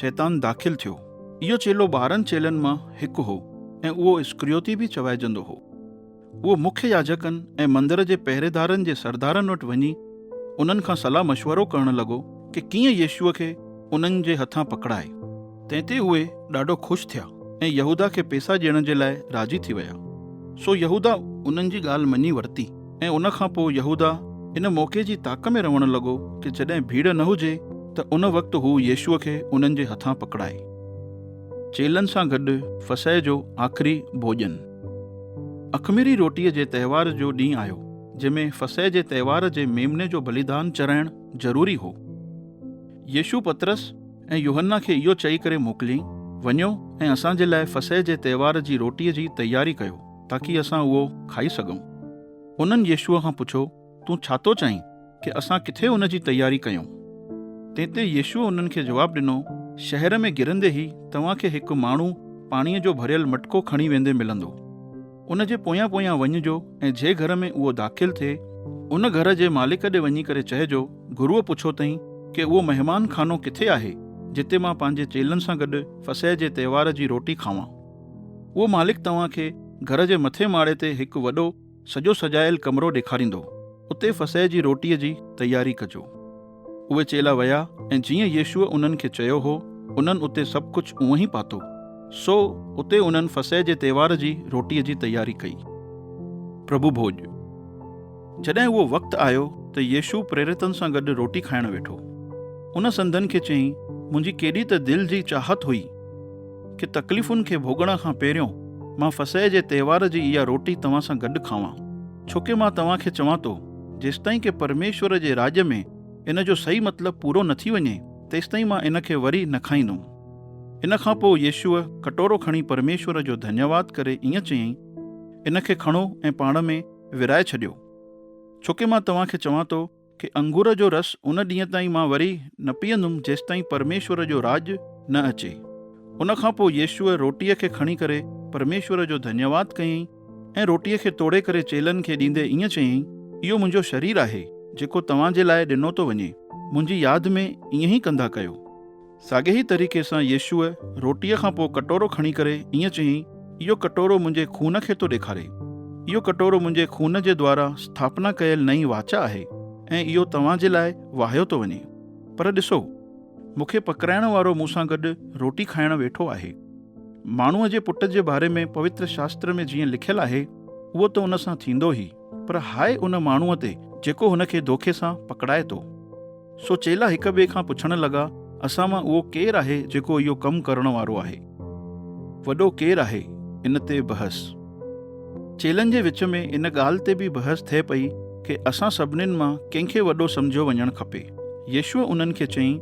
شيطان داخل ٿيو. اهو چيلو ٻارهن چيلن مان هڪ هو ۽ اهو اسڪريوتي به چوائجندو هو. اهو مکيه ياجڪن ۽ مندر جي پهريدارن جي سردارن وٽ وڃي انهن کان صلاح مشورو ڪرڻ لڳو ڪي ڪيئن يسوع کي انهن جي هٿان پڪڙائي. تنهن تي اهي ڏاڍو خوش ٿيا ۽ يهوداه کي پيسا ڏيڻ جي لاء راضي ٿي ويا. سو يهوداه انهن جي ڳالهه مڃي ورتي. ۽ ان کان پوء يهوداه ان موقعي جي تاڪ ۾ رهڻ لڳو ته جڏهن ڀيڙ نه هجي ته ان وقت هو يسوع کي انهن جي هٿان پڪڙائي. چيلن سان گڏ فسح جو آخري ڀوڄن. اخميري روٽيء جي تهوار جو ڏينهن آيو، جنهن ۾ فسح جي تهوار جي ميمني جو بليدان چرائڻ ضروري هو. يسوع پطرس ۽ يوحنا کي اهو چئي ڪري موڪليائين، وڃو ۽ اسان جي لاء فسح جي تهوار جي روٽيء جي تياري ڪيو. تاڪي اسان اهو کائي سگهون. انهن يسوع کان پڇيو، تون ڇا ٿو چاهين ڪي اسان ڪٿي ان جي تياري ڪيون؟ تنهن تي يسوع انهن کي جواب ڏنو، شهر ۾ گهرندي ئي توهان کي هڪ ماڻهو پاڻيء جو ڀريل مٽڪو کڻي ويندي ملندو. ان جي پويان پويان وڃجو ۽ جنهن گهر ۾ اهو داخل ٿئي، ان گهر جي مالڪ ڏي وڃي ڪري چئجو، گروء پڇيو اٿئين ڪي اهو مهمان خانو ڪٿي آهي، جتي مان پنهنجي چيلن سان گڏ فصح جي تهوار جي روٽي کاوان؟ اهو مالڪ توهان کي گهر جي مٿين ماڙي تي هڪ وڏو سڄو سجايل ڪمرو ڏيکاريندو، اتي فسح جي روٽيء جي تياري ڪجو. اهي چيلا ويا ۽ جيئن يسوع انهن کي چيو هو، انهن اتي سڀ ڪجهه اونهي ئي پاتو. سو اتي انهن فسح جي تهوار جي روٽيء جي تياري ڪئي. پرڀو ڀوڄ. جڏهن اهو وقت آيو ته يسوع پريرتن سان گڏ روٽي کائڻ ويٺو. ان سندن کي چيائين، منهنجي ڪيڏي ته دل جي چاهت هئي ڪي تڪليفن کي ڀوڳڻ کان پهريون مان فصح جي تهوار جي اها روٽي توهان سان گڏ کاوان. ڇوڪه مان توهان کي چوان ٿو، جيستائين ڪي پرميشور جي راڄ ۾ ان جو صحيح مطلب پورو نه ٿي وڃي، تيستائين مان ان کي وري نه کائيندم. ان کان پوء يسوع ڪٽورو کڻي پرميشور جو ڌنيواد ڪري ائين چيائين، ان کي کڻو ۽ پاڻ ۾ ورهائي ڇڏيو، ڇو ڪي مان توهان کي چوان ٿو ڪي انگور جو رس ان ڏينهن تائين مان وري نه پيئندم جيستائين پرميشور جو راڄ نه اچي. ان کان پوء يسوع روٽيء کي کڻي ڪري پرميشور جو ڌنيواد ڪيائين ۽ روٽيء کي توڙي ڪري چيلن کي ڏيندي ائين چيائين، اهو منهنجو شرير آهي، جيڪو توهان جي لاء ڏنو ٿو وڃي، منهنجي ياد ۾ ائين ئي ڪندا ڪيو. ساڳئي ئي طريقي سان يسوع روٽيء کان پوء ڪٽورو کڻي ڪري ائين چيائين، اهو ڪٽورو منهنجي خون کي ٿو ڏيکاري. اهو ڪٽورو منهنجي خون جي دوارا اسٿاپنا ڪيل نئين واچا آهي ۽ اهو توهان جي لاء وهايو ٿو وڃي. پر ڏسو! مون کي پڪڙائڻ وارو مون سان گڏ روٽي کائڻ ويٺو آهي. ماڻهوء جي پٽ جي باري ۾ پوتر شاستر ۾ جيئن لکيل آهي، اهو ته ان سان ٿيندو ئي. پر هاء ان ماڻهوء تي جيڪو هن کي دوکي سان پڪڙائي ٿو. سو چيلا هڪ ٻئي کان پڇڻ لڳا، اسان مان اهو ڪير آهي جيڪو اهو ڪم ڪرڻ وارو آهي؟ وڏو ڪير آهي؟ ان تي بحث. چيلن جي وچ ۾ ان ڳالهه تي به بحث ٿئي پئي ڪي اسان سڀنين مان ڪنهن کي وڏو سمجهيو وڃڻ کپي. يسوع انهن کي چيائين،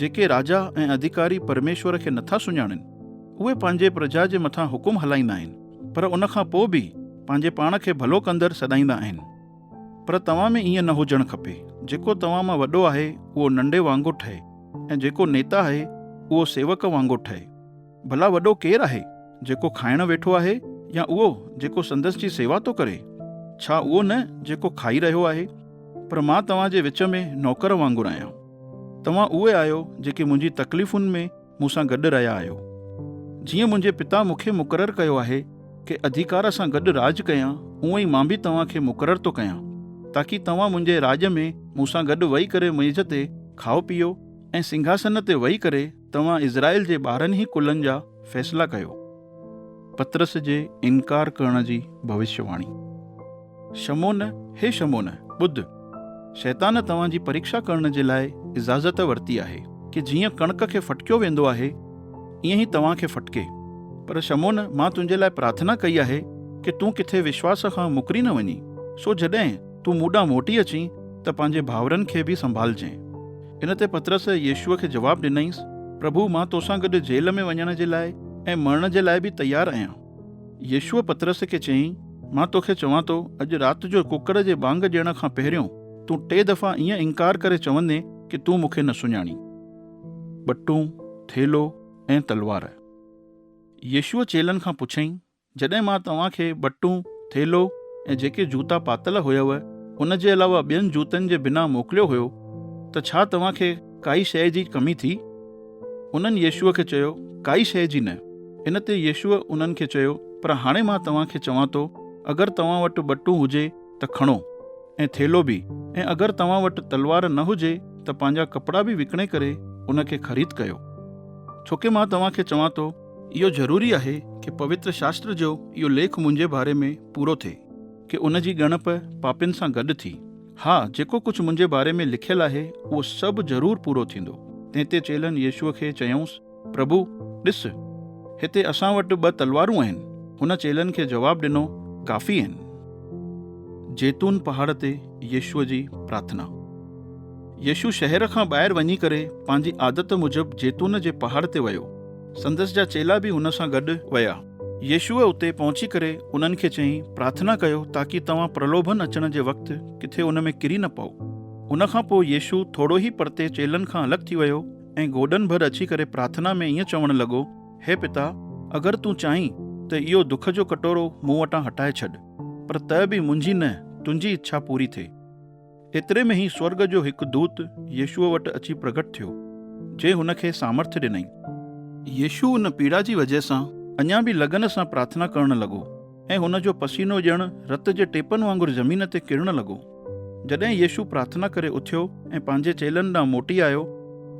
جيڪي راجا ۽ اڌڪاري پرميشور کي نٿا سڃاڻن، اهي پنهنجي پرجا جي مٿان حڪم هلائيندا آهن. پر ان کان پوء به پنهنجي پاڻ کي ڀلو ڪندڙ سڏائيندا آهن. پر توهان ۾ ائين نه هجڻ کپي. جيڪو توهان مان وڏو آهي اهو ننڍي وانگر ٺهي ۽ جيڪو نيتا آهي اهو سيوڪ وانگر ٺهي. ڀلا وڏو ڪير آهي، جيڪو کائڻ ويٺو آهي يا اهو جيڪو سندس جي سيوا ٿو ڪري؟ ڇا اهو نه جيڪو کائي رهيو آهي؟ پر مان توهان جي وچ ۾ نوڪر وانگر آهيان. توهان اهي آهيو جيڪي منهنجي تڪليفن ۾ مون سان گڏ رهيا آهيو. جيئن منهنجي پتا مون کي مقرر ڪيو آهي ڪي اڌيڪار سان گڏ راڄ ڪيان اونء ئي مان به توهان کي مقرر ٿو ڪيان تاڪي توهان منهنجي راڄ ۾ مون سان گڏ ويهي ڪري ميز تي کائو پيئو ۽ سنگهاسن تي ويهي ڪري توهان اسرائيل جي ٻارهن ئي ڪلن جا فيصلا ڪيو. پطرس جي انڪار ڪرڻ جي ڀوشيواڻي. شمعون، هي شمعون، ٻڌ! شيطان توهان جي پريڪشا ڪرڻ جي لاء اجازت ورتي آهي، ڪي جيئن ڪڻڪ کي ڦٽڪيو ويندو آهي، ائين ئي توهان کي ڦٽڪي. پر شمعون، مان تنهنجي لاء پرارٿنا ڪئي آهي، ڪي تون ڪٿي وشواس کان مڪري نه وڃين. سو جڏهن تون مون ڏانهن موٽي اچين ته پنهنجي ڀائرن کي به سنڀالجين. ان تي پطرس يسوع کي جواب ڏنائينس، پرڀو، مان توسان گڏ جيل ۾ وڃڻ جي لاء ۽ مرڻ جي لاء به تيار آهيان. يسوع پطرس کي چيائين، مان توکي چوان ٿو، اڄ رات جو ڪڪڙ جي ٻانگ ڏيڻ کان پهريون، تون ٽي دفعا ائين انڪار ڪري چوندين ڪي تون مون کي نه سڃاڻين. ٻٽون، ٿيلهو ۽ تلوار. يسوع چيلن کان پڇيائين، جڏهن مان توهان کي ٻٽون، ٿيلهو ۽ جيڪي جوتا پاتل هيؤ، ان جي علاوه ٻين جوتن جي بنا موڪليو هيو، ته ڇا توهان کي، ڪائي شيء جي ڪمي ٿي؟ انهن يسوع کي چيو، ڪائي شيء جي نه. ان تي يسوع انهن کي چيو، پر هاڻي مان توهان کي چوان ٿو، اگر توهان وٽ ٻٽون هجي ته کڻو، ۽ ٿيلهو به، ۽ اگر توهان وٽ تلوار نه هجي ته پنهنجا ڪپڙا به وڪڻي ڪري ان کي خريد ڪيو. ڇوڪه مان توهان کي چوان ٿو، اهو ضروري آهي ڪي پوتر شاستر جو اهو ليک منهنجي باري ۾ پورو ٿئي، ڪي ان جي ڳڻپ پاپين سان گڏ ٿي. ها، جيڪو ڪجهه منهنجي باري ۾ لکيل آهي، اهو سڀ ضرور پورو ٿيندو. تنهن تي چيلن يسوع کي چيائونس، پرڀو، ڏس، هتي اسان وٽ ٻه تلوارون آهن. هن چيلن کي جواب ڏنو، ڪافي آهن. زيتون پهاڙ تي يسوع جي پرارٿنا. يسوع شهر کان ٻاهر وڃي ڪري پنهنجي عادت موجب زيتون جي پهاڙ تي ويو. سندس جا چيلا به هن سان گڏ ويا. يسوع اتي پهچي ڪري انهن کي چيائين، پرارٿنا ڪيو تاڪي توهان پرلوڀن اچڻ جي وقت ڪٿي ان ۾ ڪري نه پئو. ان کان پوء يسوع ٿورو ئي پرتي چيلن کان الڳ ٿي ويو ۽ گوڏن ڀر اچي ڪري پرارٿنا ۾ ائين چوڻ لڳو، هي پتا، اگر تون چاهين ته اهو دک جو ڪٽورو مون وٽان هٽائي ڇڏ، پر ته به منهنجي نه، تنهنجي اڇا پوري ٿئي. ايتري ۾ ئي سورڳ جو هڪ دوت يسوع وٽ اچي پرگهٽ ٿيو، جنهن هن کي سامرٿ ڏنائين. يسوع ان پيڙا جي وجهه سان اڃا به لگن سان پرارٿنا ڪرڻ لڳو ۽ هن جو پسينو ڄڻ رت جي ٽيپن وانگر زمين تي ڪرڻ لڳو. جڏهن يسوع پرارٿنا ڪري اٿيو ۽ پنهنجي چيلن ڏانهن موٽي آيو،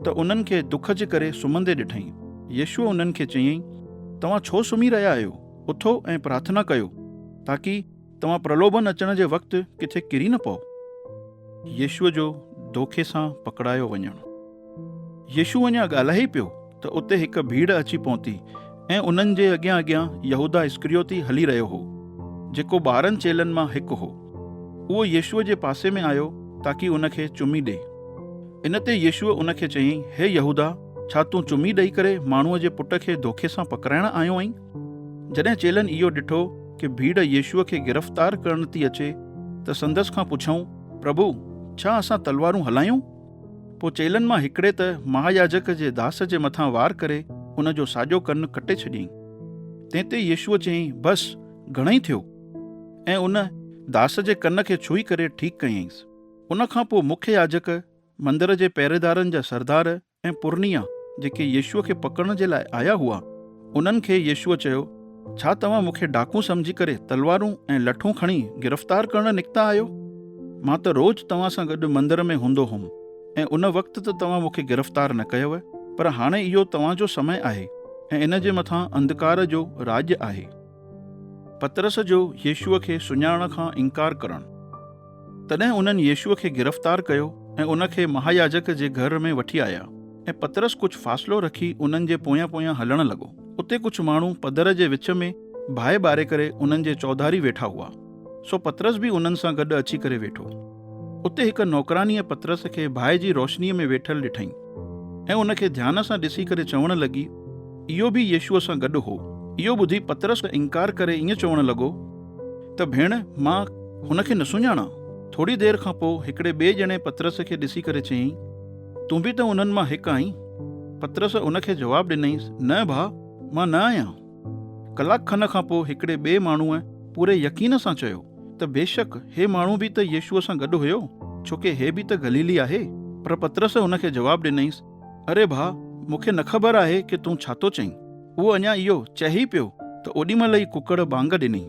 ته انهن کي دک جي ڪري سمهندي ڏٺائين. يسوع انهن کي چيائين، توهان ڇو سمهي رهيا آهيو؟ اٿو ۽ پرارٿنا ڪيو، تاڪي توهان پرلوڀن اچڻ جي وقت ڪٿي ڪري نه پئو. يسوع جو دوکي سان پڪڙايو وڃڻ. يسوع اڃا ڳالهائي ئي پيو ته اتي هڪ ڀيڙ اچي پهتي ۽ انهن جي اڳيان اڳيان يهوداه اسڪريوتي هلي رهيو هو، جيڪو ٻارهن چيلن مان هڪ هو. اهو يسوع جي پاسي ۾ آيو تاڪي ان کي چمي ڏئي. ان تي يسوع ان کي چيائين، هي يهوداه، ڇا تون چمي ڏئي ڪري ماڻهوء جي پٽ کي دوکي سان پڪرائڻ آيو آهين؟ جڏهن چيلن اهو ڏٺو ڪي ڀيڙ يسوع کي گرفتار ڪرڻ ٿي اچي ته سندس کان پڇيائون، پرڀو، ڇا اسان تلوارون هلايون؟ پوء چيلن مان هڪڙي ته مهاياجڪ جي داس جي مٿان وار ڪري ان جو ساڄو ڪن ڪٽي ڇڏيائين. تنهن تي يسوع چيائين، بس، گهڻئي ٿيو. ۽ ان داس جي ڪن کي ڇهي ڪري ٺيڪ ڪيائينس. ان کان پوء مک ياجڪ، مندر جي پهريدارن جا سردار ۽ ۽ پرنيا جيڪي يسوع کي پڪڙڻ جي لاء آيا هئا، انهن کي يسوع چيو، ڇا توهان مون کي ڊاڪو سمجهي ڪري تلوارون ۽ لٺون کڻي گرفتار ڪرڻ نڪتا آهيو؟ مان ته روز توهان سان گڏ مندر ۾ هوندو هوم ۽ ان وقت ته توهان مون کي گرفتار نه ڪيو، پر هاڻي اهو توهان جو سمي آهي ۽ ان جي مٿان انڌڪار جو راڄ آهي. پطرس جو يسوع کي سڃاڻڻ کان انڪار ڪرڻ. تڏهن انهن يسوع کي گرفتار ڪيو ۽ ان کي مهاياجڪ جي گهر ۾ وٺي آيا، ۽ پطرس ڪجهه فاصلو رکي انهن جي پويان پويان هلڻ لڳو. اتي ڪجهه ماڻهو پڌر جي وچ ۾ باهه ٻاري ڪري انهن جي چوڌاري ويٺا هئا. سو پطرس به انهن سان گڏ اچي ڪري ويٺو. اتي هڪ نوڪرانيء پطرس کي باهه جي روشنيء ۾ ويٺل ڏٺائين، ۽ ان کي ڌيان سان ڏسي ڪري چوڻ لڳي، اهو به يسوع سان گڏ هو. اهو ٻڌي پطرس انڪار ڪري ائين چوڻ لڳو ته ڀيڻ، مان هن کي نه سڃاڻان. ٿوري دير کان پوء هڪڙي ٻئي ڄڻي پطرس کي ڏسي ڪري چيائين، تون به ته انهن مان هڪ آهين. پطرس ان کي جواب ڏنائينس، نه ڀاء، مان نه آهيان. ڪلاڪ کن کان پوء هڪڙي ٻئي ماڻهوء پوري يقين سان چيو ته بيشڪ هي ماڻهو به ته يسوع سان گڏ هيو، ڇو ڪي هي به ته گليلي آهي. پر پطرس هن کي جواب ڏنائينس، اري ڀاء، مون کي نه خبر آهي ڪي تون ڇا ٿو چئين. اهو اڃا اهو چئي ئي پيو ته اوڏي مهل ئي ڪڪڙ ٻانگ ڏني.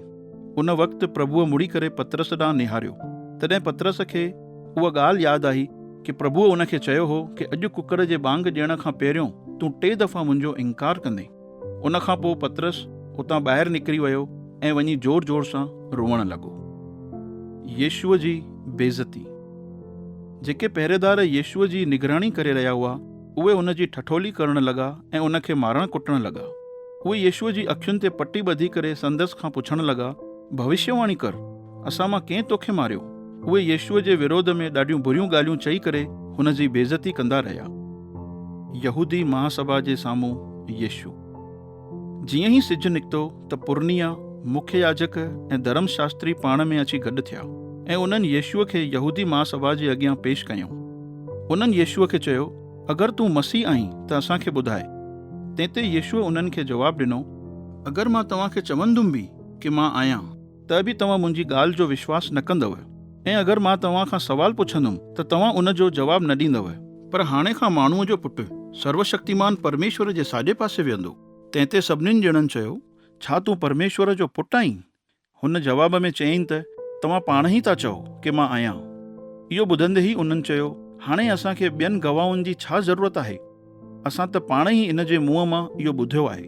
ان وقت پرڀوء مڙي ڪري پطرس ڏانهن نهاريو. تڏهن پطرس کي اها ڳالهه ياد آئي ڪي پرڀوء ان کي چيو هو ڪي اڄ ڪڪڙ جي ٻانگ ڏيڻ کان پهريون تون ٽي دفعا منهنجو انڪار ڪندين. ان کان پوء پطرس اتان ٻاهر نڪري ويو ۽ وڃي زور زور سان روئڻ لڳو. يسوع جي بيعزتي. جيڪي پهريدار يسوع جي نگراڻي ڪري رهيا هئا، اهي هن جي ٺٺولي ڪرڻ لڳا ۽ ان کي مارڻ ڪٽڻ لڳا. اهي يسوع جي اکين تي پٽي ٻڌي ڪري سندس کان پڇڻ لڳا، ڀوشيواڻي ڪر! اسان مان ڪنهن توکي ماريو؟ اهي يسوع جي وروڌ ۾ ڏاڍيون بريون ڳالهيون چئي ڪري هن جي بيعزتي ڪندا رهيا. يهودي مهاسڀا جي سامهون يسوع. جيئن ئي سج نڪتو ته پرنيا، مکيه ياجڪ ۽ ڌرم شاستري پاڻ ۾ اچي گڏ ٿيا ۽ انهن يسوع کي يهودي مهاسڀا جي اڳيان پيش ڪيائون. انهن يسوع کي چيو، اگر تون مسيح آهين ته اسان کي ٻڌاء. تنهن تي يسوع انهن کي جواب ڏنو، اگر مان توهان کي چوندم به ڪي مان آهيان ته به توهان منهنجي ڳالهه جو وشواس نه ڪندؤ، ۽ اگر مان توهان کان سوال پڇندم ته توهان ان جو جواب نه ڏيندؤ. پر هاڻي کان ماڻهوء جو پٽ سروشڪتيمان پرميشور جي ساڄي پاسي ويهندو. تنهن تي سڀني ڄڻن چيو، ڇا تون پرميشور جو پٽ آهين؟ هن جواب ۾ چيائين ته، توهان پاڻ ئي ٿا چئو ڪي مان آهيان. اهو ٻڌندي ئي انهن چيو، هاڻي اسان کي ٻين گواهن جي ڇا ضرورت آهي؟ اسان ته پاڻ ئي ان جي منهن مان اهو ٻڌيو آهي.